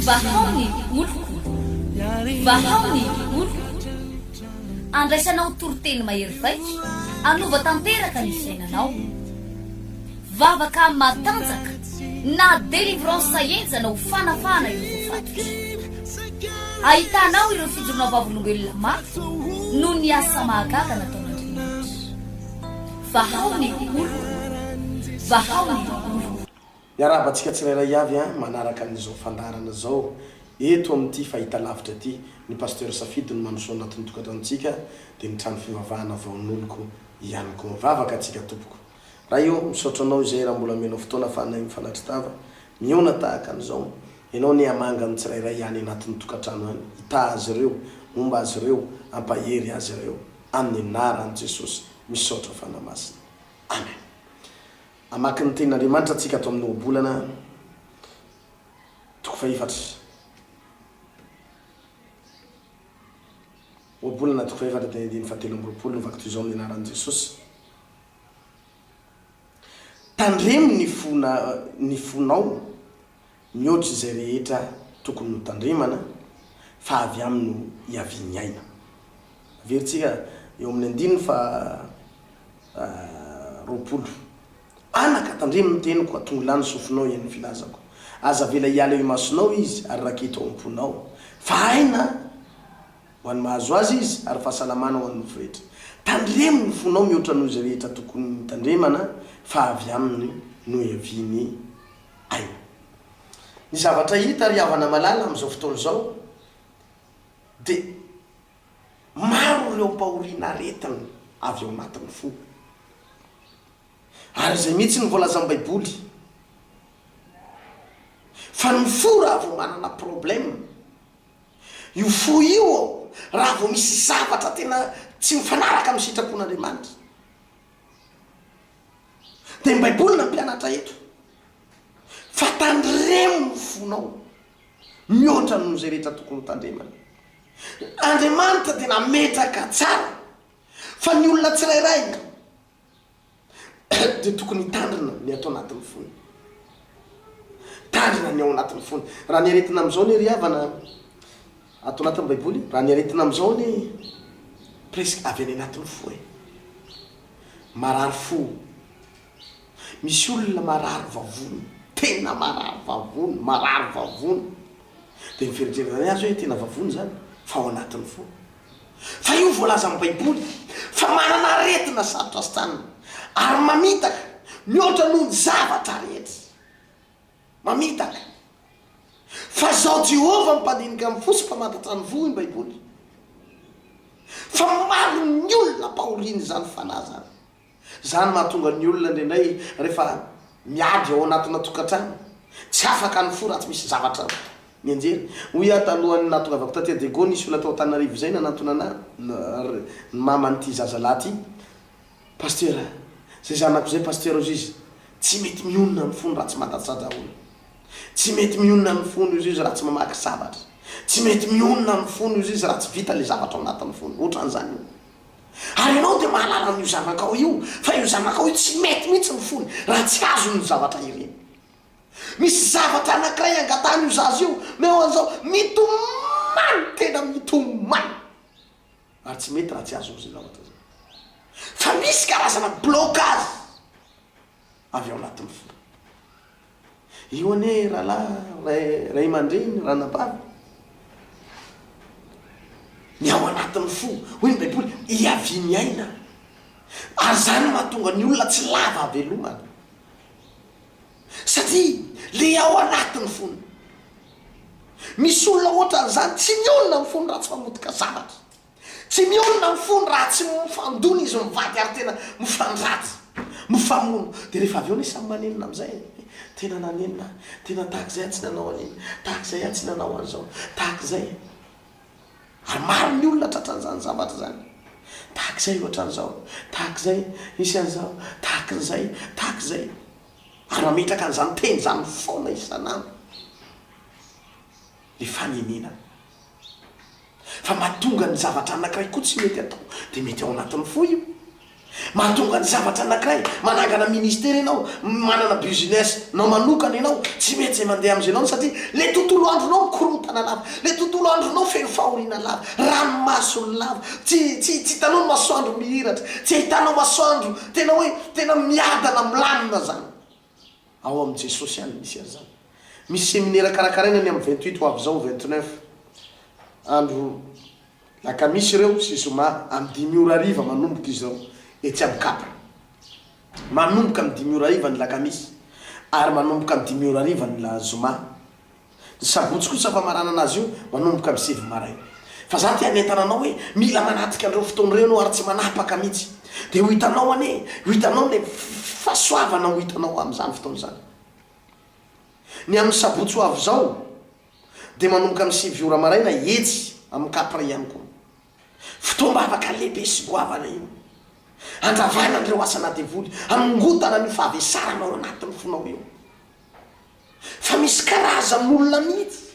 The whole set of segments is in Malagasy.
Vahao ny oloko, vahao ny oloko, andraisanao toriteny mahery vaika, hanova tanteraka ny fiainanao. Vavaka matanjaka na délivrance henjana ho fanafahana ireo voafatotra. Ahitanao ireo fijoroana vavolombelona mafy noho ny asa mahagaga nataon'Andriamanitra. Vahao ny olo! Vahao ny olo! Miarahaba antsika tsirairay avy an! Manaraka an'izao fandaharana izao eto amin'ity fahitalavitra ity ny Pasteur Safidy no mandroso ao anatin'ny tokantranontsika dia ny trano fivavahana Vaon'oloko ihany koa. Mivavaka antsika tompoko. Ray ô! Misaotra anao izay raha mbola omenao fotoana fanahy mifanatri-tava mihaona tahaka an'izao. Ianao anie hamanga ny tsirairay any anatin'ny tokantrano any. Hitaha azy ireo, homba azy ireo, hampahery azy ireo. Amin'ny anaran'i Jesosy. Misaotra Fanahy Masina. Amen. Hamaky ny tenin'Andriamanitra tsika ato amin'ny ohabolana toko fahefatra. Ohabolana toko fahefatra dia andininy fahatelo amby roapolo no vakito izao ny anaran'i Jesosy. Tandremo ny fona ny fonao Mihoatra izay rehetra tokony notandremana fa avy aminy no hiavian'ny aina. Averintsika eo amin'ny andininy faha-roapolo. Anaka, tandremo ny teniko, atongo lany sofinao hihaino ny filazako. Aza avela hiala eo imasonao izy ary raketo ao am-ponao fa aina ho an'ny mahazo azy izy ary fahasalamana ho an'ny nofo rehetra. Tandremo ny fonao mihoatra noho izay rehetra tokony nitandremana fa avy aminy no hiavian'ny Ay. Ny zavatra hita ry havana malala amin'izao fotoana izao dia maro ireo ampahoriana aretina avy ao anatin'ny fo. Ary izay mihitsy no voalazan'ny baiboly fa ny fo raha vao manana problème, io fo io raha vao misy zavatra tena tsy mifanaraka amin'ny sitrapon'Andriamanitra, Dia Baiboly nampianatra eto fa tandremo ny fonao mihoatra noho izay rehetra tokony hotandremana. Andriamanitra dia nametraka tsara fa ny olona tsirairay dia tokony hitandrina ny ato anatin'ny fony. Tandrina ny ao anatin'ny fony. Raha ny aretina amin'izao anie ry havana ato anatin'ny Baiboly, raha ny aretina amin'izao anie presque avy any anatin'ny fo e. marary fo, misy olona marary vavony, tena marary vavony, marary vavony, dia ny fieritrerena azy hoe tena vavony izany fa ao anatin'ny fo, fa io voalazan'ny baiboly fa manana aretina sarotra asitanina ary mamitaka mihoatra noho ny zavatra rehetra. Mamitaka fa izao Jehovah no mpandinika amin'ny fo sy mpamantatra ny voa i Baiboly. Fa maro ny olona mpahorian'izany fanahy izany. Izany mahatonga ny olona indraindray rehefa miadry ao anatina tokantrano, tsy afaka ny fo raha tsy misy zavatra mianjera. Hoy aho talohan'ny nahatongavako taty Adego, nisy olona tao Antananarivo izay nanantonana ahy, ny maman'ity zazalahy ity. Pastera, Zay zanako zay Pastera ozy izy tsy mety mionona amin'ny fony raha tsy madatsaja olona. Tsy mety mionona amin'ny fony ozy izy raha tsy mamaky zavatra. Tsy mety mionona amin'ny fony ozy izy raha tsy vita le zavatra ao anatin'ny fony. Otran'izany io. Ary ianao dia mahalala an'io zanakao io fa io zanakao io tsy mety mihitsy ny fony raha tsy azony ny zavatra ireny. Misy zavatra anakiray angatahan'io zaza io, meo an'izao, mitomany tena mitomany. ary tsy mety raha tsy azon'ny Zilaoty izany fa misy karazana blocage avy ao anatin'ny fo. Io anie rahalahy, ray, ray aman-dreny, ranabavy, ny ao anatin'ny fo, hoy ny Baiboly, hiavian'ny aina. Ary izany no mahatonga ny olona tsy lava havelomana. satria le ao anatiny fona misy olona otran'izany tsy mionona ny fony raha tsy mamotika zavatra tsy mionona ny fony raha tsy mifandona izy mivady ary tena mifandratsy mifamono de rehefa avy eo ny samy manenina amizay tena nanenina ahy tena tahak'izay aho tsy nanao an'iny tahak'izay aho tsy nanao an'izao tahak'izay Ary maro ny olona tratran'izany zavatra izany. Tahaka izay ohatra an'izao, tahaka izay nisy an'izao, tahaka an'izay, tahaka izay. Ary mametraka an'izany teny izany foana isan'andro ny fanenenana. Fa mahatonga ny zavatra anankiray koa tsy mety atao dia mety ao anatin'ny fo io. Mahatonga ny zavatra anakiray, manangana ministera ianao, manana business nao manokana ianao, tsy mety izay mandeha amin'izay nao satria le tontolo andronao mikorontana lava, le tontolo andronao feno fahoriana lava, ranomaso lava, tsy tsy tsy hitanao ny masoandro mihiratra, tsy ahitanao masoandro tena hoe tena miadana milamina zany. Ao amin'ny Jesosy ihany misy an'izany. Misy seminera karakaraina ny amin'ny vingt huit ho avy izao, vingt neuf, andro lakamisy ireo sy zoma amin'ny dimy ora hariva manomboka izy ireo etsy amin'ny Cap. Manomboka amin'ny dimy ora hariva ny lakamisy ary manomboka amin'ny dimy ora hariva ny zoma Ny sabotsy kosa famaranana azy io manomboka amin'ny sivy maraina. Fa za te hanentana anao hoe mila manatrika an'ireo fotoana ireo ianao ary tsy manapaka mihitsy. Dia ho hitanao anie, ho hitanao ilay fahasoavana ho hitanao amin'izany fotoana izany. Ny amin'ny sabotsy ho avy izao dia manomboka amin'ny sivy ora maraina etsy amin'ny Capri ihany koa. Fotoam-bavaka lehibe sy goavana io. Handravana an'ireo asana devoly, hanongotana an'io fahavesarana ao anatin'ny fonao io. Fa misy karazan'olona mihitsy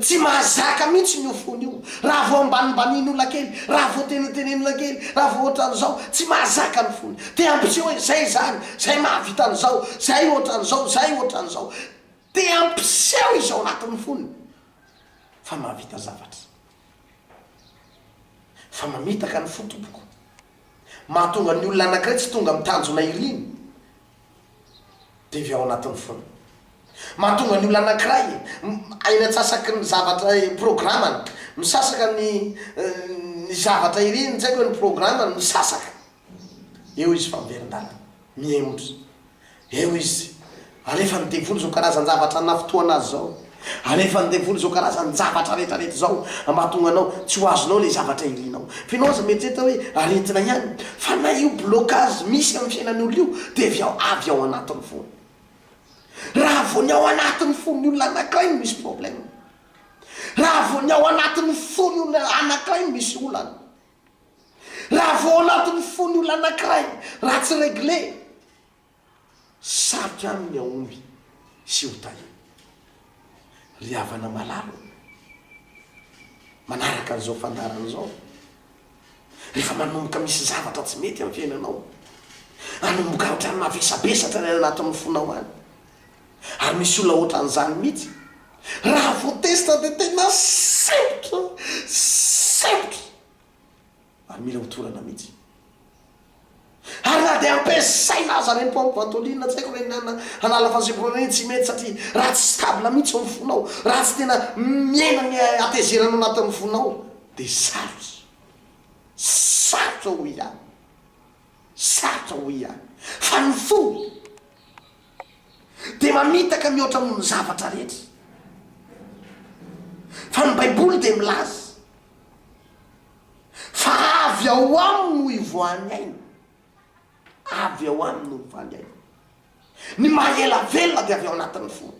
tsy mahazaka mihitsy ny ho fony io, raha vao ambanimbanin'olona kely, raha vao tenetenen'olona kely, raha vao ohatran'izao, tsy mahazaka ny fony. Te hampiseho hoe izay izany, izay mahavita an'izao, izay ohatran'izao, izay ohatran'izao. Te hampiseho izy ao anatin'ny fony fa mahavita zavatra, fa mamitaka ny fo tompoko. Mahatonga ny olona anankiray tsy tonga amin'ny tanjona iriny dia avy ao anatin'ny fony. Mahatonga ny olona anankiray ainy antsasaky ny zavatra programany, misasaka ny ny zavatra iriny, tsy haiko hoe ny programany misasaka. Eo izy fa miverin-dalana, mihemotra. Eo izy. Alefan'ny devoly izao karazan-javatra nafitohana azy izao. Alefan'ny devoly izao karazan-javatra rehetrarehetra izao mba hahatonga anao tsy ho azonao ilay zavatra irianao. Fa ianao aza mieritreritra hoe aretina ihany. Fa na io blocage misy amin'ny fiainan'ny olona io dia avy ao, avy ao anatin'ny fony. Raha vao ny ao anatin'ny fon'ny olona anankiray no misy problème. Raha vao ny ao anatin'ny fon'ny olona anankiray no misy olana. Raha vao ao anatin'ny fon'ny olona anankiray raha tsy regle, sarotra aminy ny hahomby sy ho tahiana. Ry havana malala ô, manaraka an'izao fandaharana izao, rehefa manomboka misy zavatra tsy mety amin'ny fiainanao, anomboka haotrany mavesabesatra ny any anatin'ny fonao any, Ary misy olona ohatran'izany mihitsy. Raha vao tezitra dia tena sempotra, sempotra. Ary mila hotorana mihitsy. Ary na dia ampiasaina aza ireny pompe ventoline, tsy haiko ireny an, hanala fahazempoana ireny, tsy mety satria raha tsy stable mihitsy ao amin'ny fonao, raha tsy tena mihena ny hatezerana ao anatin'ny fonao dia sarotra. Sarotra hoy aho. Sarotra hoy aho. Fa ny fo dia mamitaka mihoatra noho ny zavatra rehetra. Fa ny Baiboly dia milaza fa avy ao aminy no ivoahan'ny aina. Avy ao aminy no ivoahan'ny aina. Ny maha ela velona dia avy ao anatin'ny fo.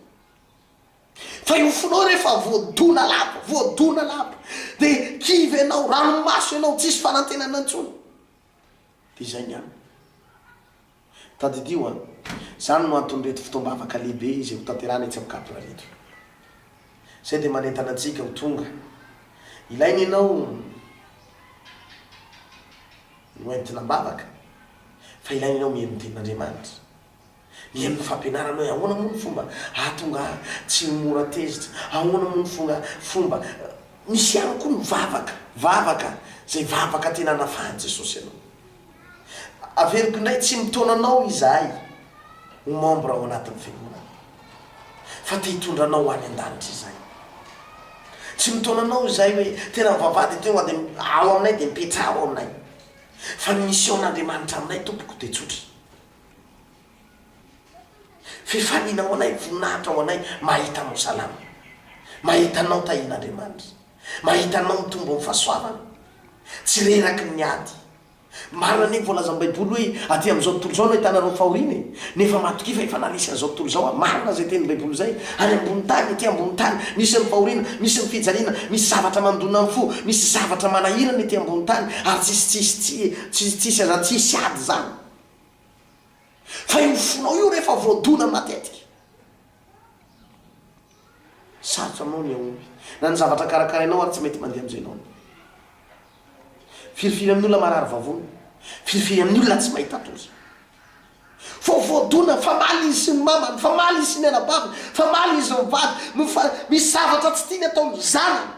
Fa io fonao rehefa voadona lava, voadona lava, dia kivy ianao, ranomaso ianao, tsisy fanantenana intsony. Dia izay ny aminy. Tadidio an! Izany no anton'ireto fotoam-bavaka lehibe izay hotanterahana etsy amin'ny Cap ireto. Izay dia manentana antsika ho tonga. Ilaina ianao ho entina am-bavaka, fa ilaina ianao mihaino ny Tenin'Andriamanitra. Mihaino ny fampianarana hoe ahoana moa ny fomba hahatonga ahy tsy ho mora tezitra, ahoana moa ny fonga, fomba. Misy ihany koa ny vavaka. Vavaka, izay vavaka tena anafahan'i Jesosy anao. Averiko indray, tsy mitaona anao izahay ho membre ao anatin'ny Fiangonana, fa te hitondra anao ho any an-danitra izahay. Tsy mitaona anao izahay hoe tena mivavahady hatreto fa dia ao aminay dia mipetraha ao aminay. Fa ny mission-n'Andriamanitra aminay tompoko dia tsotra. Fifaliana ho anay, voninahitra ho anay mahita anao salama, mahita anao tahian'Andriamanitra. Mahita anao mitombo amin'ny fahasoavana, tsy reraky ny ady. Marina anie ny voalazan'ny Baiboly hoe aty amin'izao tontolo izao no ahitanareo ny fahoriana e! Nefa matokia fa efa naharesy an'izao tontolo izao aho. Marina izay tenin'ny Baiboly izay. Any ambony tany, ety ambony tany, misy ny fahoriana, misy ny fijaliana, misy zavatra mandona ny fo, misy zavatra manahirana ety ambony tany, ary tsisy tsisy tsy tsy tsisy aza tsy hisy ady izany. Fa io fonao io rehefa voadona matetika. Sarotra aminao ny hahomby na ny zavatra karakarainao ary tsy mety mandeha amin'izay ilaonao. Firifiry amin'ny olona marary vavony. Firifiry amin'ny olona tsy mahita tory. Vao voadona, famaly izy sy ny mamany, famaly izy sy ny anabaviny, famaly izy mivady, no fa misy zavatra tsy tiany ataon'ny zanany.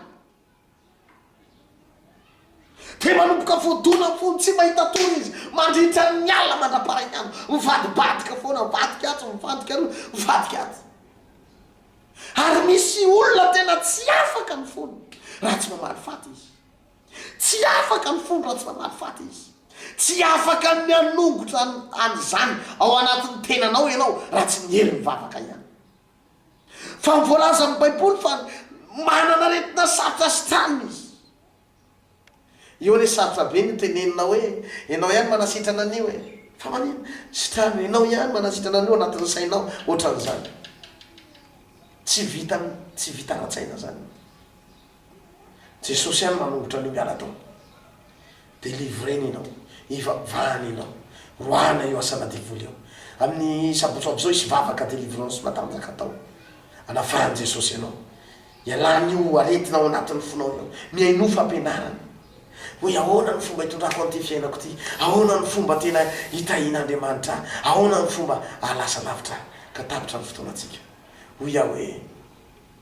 Dia manomboka voadona ny fony, tsy mahita tory izy, mandritra ny alina mandra-pahaikandro, mivadibadika foana, mivadika atsy, mivadika aroa, mivadika atsy. Ary misy olona tena tsy afaka ny fony raha tsy mamaly faty izy. Tsy afaka ny fony raha tsy mamaly faty izy. Tsy afaka ny hanongotra an'izany ao anatin'ny tenanao ianao raha tsy miery mivavaka ihany. Fa voalaza amin'ny Baiboly fa manana aretina sarotra sitrana izy. Io anie sarotra be ny teneninao hoe ianao ihany manasitrana an'io e! Fa maninona? Sitrano, ianao ihany manasitrana an'io anatin'ny sainao, ohatran'izany. Tsy vita, tsy vita ara-tsaina izany. Jesosy any manombotra anio miala tao. Delivrena ianao. Ivavahana ianao. Roahana io asana devoly io. Amin'ny sabotsy ho avy izao hisy vavaka delivrance matanjaka atao. Anafahan'i Jesosy ianao. Ialan'io aretina ao anatin'ny fonao io. Mihainoa fampianarana. Hoe ahoana ny fomba hitondrako an'ity fiainako ity? Ahoana ny fomba tena hitahian'Andriamanitra ahy? Ahoana ny fomba hahalasa lavitra ahy? Ka tapitra ny fotoanantsika. Hoy aho hoe.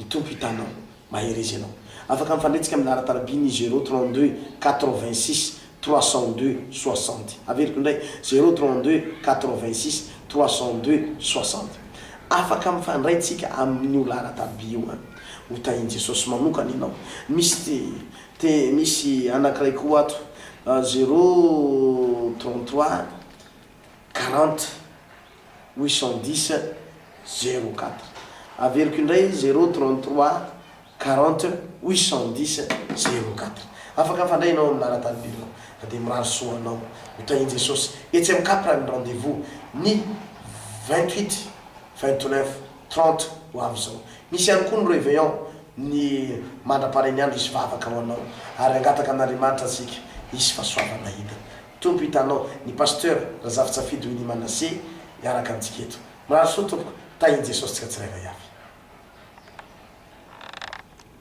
Ny Tompo hitanao. Mahereza ianao. Afaka mifandretsaka amin'ny laharan-taraby ny zéro trente deux quatre vingt six trois cent deux soixante. Averiko indray, zéro trente deux quatre vingt six trois cent deux soixante. Afaka mifandray tsika amin'io laharan-taraby io an! Ho tahin'i Jesosy manokana ianao. Misy te, te, misy anankiray koa ato, zéro trente trois quarante. huit cent dix zéro quatre. Averiko indray, zéro trente trois quarante huit cent dix zéro quatre. Afaka mifandray ianao amin'ny laharan-tany birao fa dia mirary soa ho anao. Ho tahian'i Jesosy etsy amin'ny Capra ny rendez-vous ny vingt huit, vingt neuf, trente ho avy izao. Misy ihany koa ny Réveillon ny mandra-paharen'ny andro hisy vavaka ho anao ary hangataka amin'Andriamanitra isika hisy fahasoavana hidina. Tompo hitanao ny Pasteur Razafisafidy Winnie Manassé hiaraka amintsika eto. Mirary soa tompoko, tahin'i Jesosy tsika tsirairay avy.